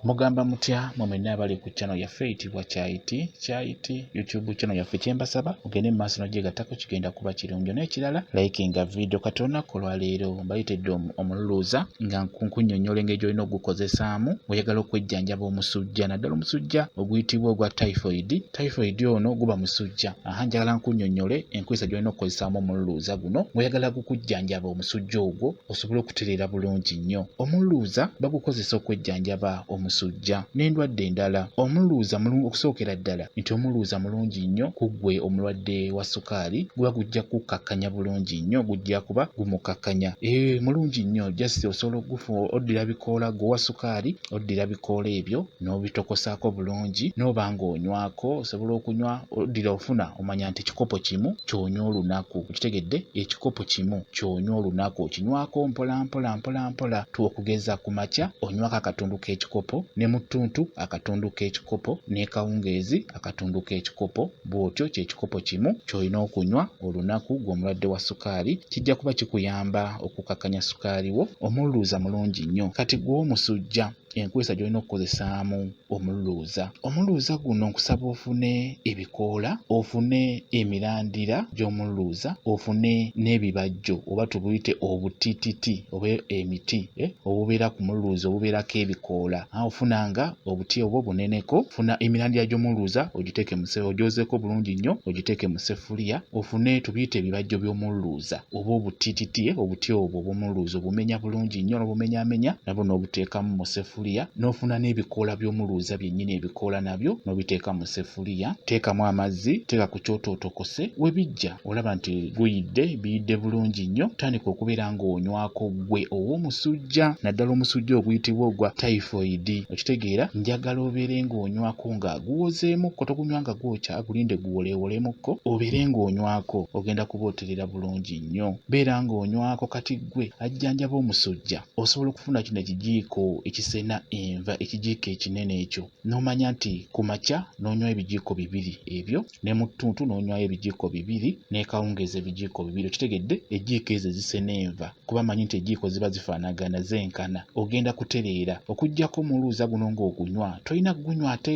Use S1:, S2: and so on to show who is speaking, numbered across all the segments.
S1: Mugamba mutya mwe mwenna abali ku channel yaffe eyitibwa Kyayiti Kyayiti YouTube channel yaffe kye mbasaba mugende mu maaso n'ogyegattako kigenda kuba kirungi n'ekirala likinga vidiyo kati olunaku olwaleero mbayitidde omululuuza nga nkunnyonnyola engeri gy'olina okugukozesaamu oyagala okwejjanjaba omusujja naddala omusujja oguyitibwa ogwa typhoid Typhoid ono guba musujja. Aha njagala nkunyonyole enkozesa gyolina okukozesaamu omululuuza guno ng'oyagala gukujjanjaba omusujja ogwo osobole okutereera bulungi nnyo. Omululuuza bagukozesa okwejjanjaba omusujja n'endwadde endala. Omululuuza mulungi okusookera ddala nti omululuuza mulungi nnyo ku ggwe omulwadde wa sukaali guba gujja kukukkakkanya bulungi nnyo gujja kuba gumukkakkanya. Ee mulungi nnyo just osobola oddira bikoola gwe owa sukaali oddira bikoola ebyo n'obitokosaako bulungi n'oba ng'onywako osobola okunywa oddira ofuna omanya nti ekikopo kimu ky'onywa olunaku okitegedde ekikopo kimu ky'onywa olunaku okinywako mpolampola mpolampola tu okugeza ku makya onywako akatundu k'ekikopo ne mu ttuntu akatundu k'ekikopo n'ekawungeezi akatundu k'ekikopo bw'otyo ky'ekikopo kimu ky'olina okunywa olunaku gw'omulwadde wa sukaali kijja kuba kikuyamba okukakkanya sukaali wo omululuuza mulungi nnyo kati gw'omusujja enkozesa gy'olina okukozesaamu omululuuza omululuuza guno nkusaba ofune ebikoola ofune emirandira gy'omululuuza ofune n'ebibajjo oba tubuyite obutititi oba emiti eh, obubeera ku mululuuza obubeerako ebikoola Ofunanga obuti obwo buneneko, funa emirandira gy'omululuuza ogiteeke mu seffuliya, ogyozeeko bulungi nnyo ogiteeke mu seffuliya, ofune tubiyite ebibajjo by'omululuuza oba obutititi obuti obwo obw'omululuuza obumenya bulungi nnyo n'obumenyaamenya nabwo n'obuteekamu mu seffuliya n'ofuna n'ebikoola by'omululuuza byennyini ebikoola nabyo n'obiteeka mu seffuliya, teekamu amazzi, teeka ku kyoto otokose, we bijja. olaba nti guyidde biyidde bulungi nnyo tandika okubeera ng'onywako gwe ow'omusujja naddala omusujja oguyitibwa ogwa typhoid okitegeera njagala obeere ng'onywako nga guwozeemukko togunywa nga gwokya gulinde guwoleewolemmukko obeere ng'onywako ogenda kuba oterera bulungi nnyo beera ng'onywako kati gwe ajjanjaba omusujja osobola okufuna kino ekijiiko ekisena enva ekijiiko ekinene ekyo n'omanya nti ku makya n'onywa ebijiiko bibiri ebyo ne mu ttuntu n'onywayo ebijiiko bibiri n'ekawungeezi ebijiiko bibiri okitegedde ejiiko ezo ezisena enva kuba manyi nti ejiiko ziba zifaanagana zenkana ogenda kutereera okugyako omuluuza guno ng'ogunywa tolina kugunywa ate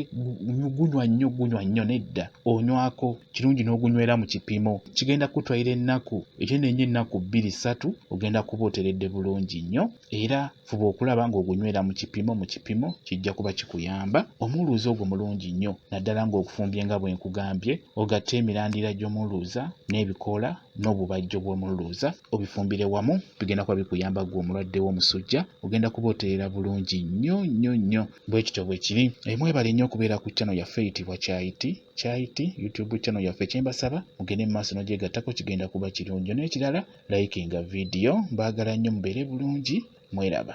S1: gunywa nnyo gunywa nnyo nedda onywako kirungi n'ogunywera mu kipimo kigenda kutwalira ennaku ekyo nenyo ennaku bbiri ssatu ogenda kuba oteredde bulungi nnyo era Fuba okulaba ng'ogunywera mu kipimo mu kipimo kijja kuba kikuyamba omuluuza ogwo mulungi nnyo naddala ng'ogufumbye nga bwe nkugambye ogatte emirandira gy'omuluuza n'ebikoola n'obubajjo bw'omuluuza obifumbire wamu bigenda kuba bikuyamba ggwe omulwadde w'omusujja ogenda kuba otereera bulungi nnyo nnyo nnyo bwe kityo bwe kiri eh, mwebale nnyo okubeera ku channel yaffe eyitibwa kyayiti kyayiti youtube channel yaffe kyembasaba mugende mu maaso n'ogyegattako kigenda kuba kirungi n'ekirala likinga video mbagala nnyo mubeere bulungi mweraba.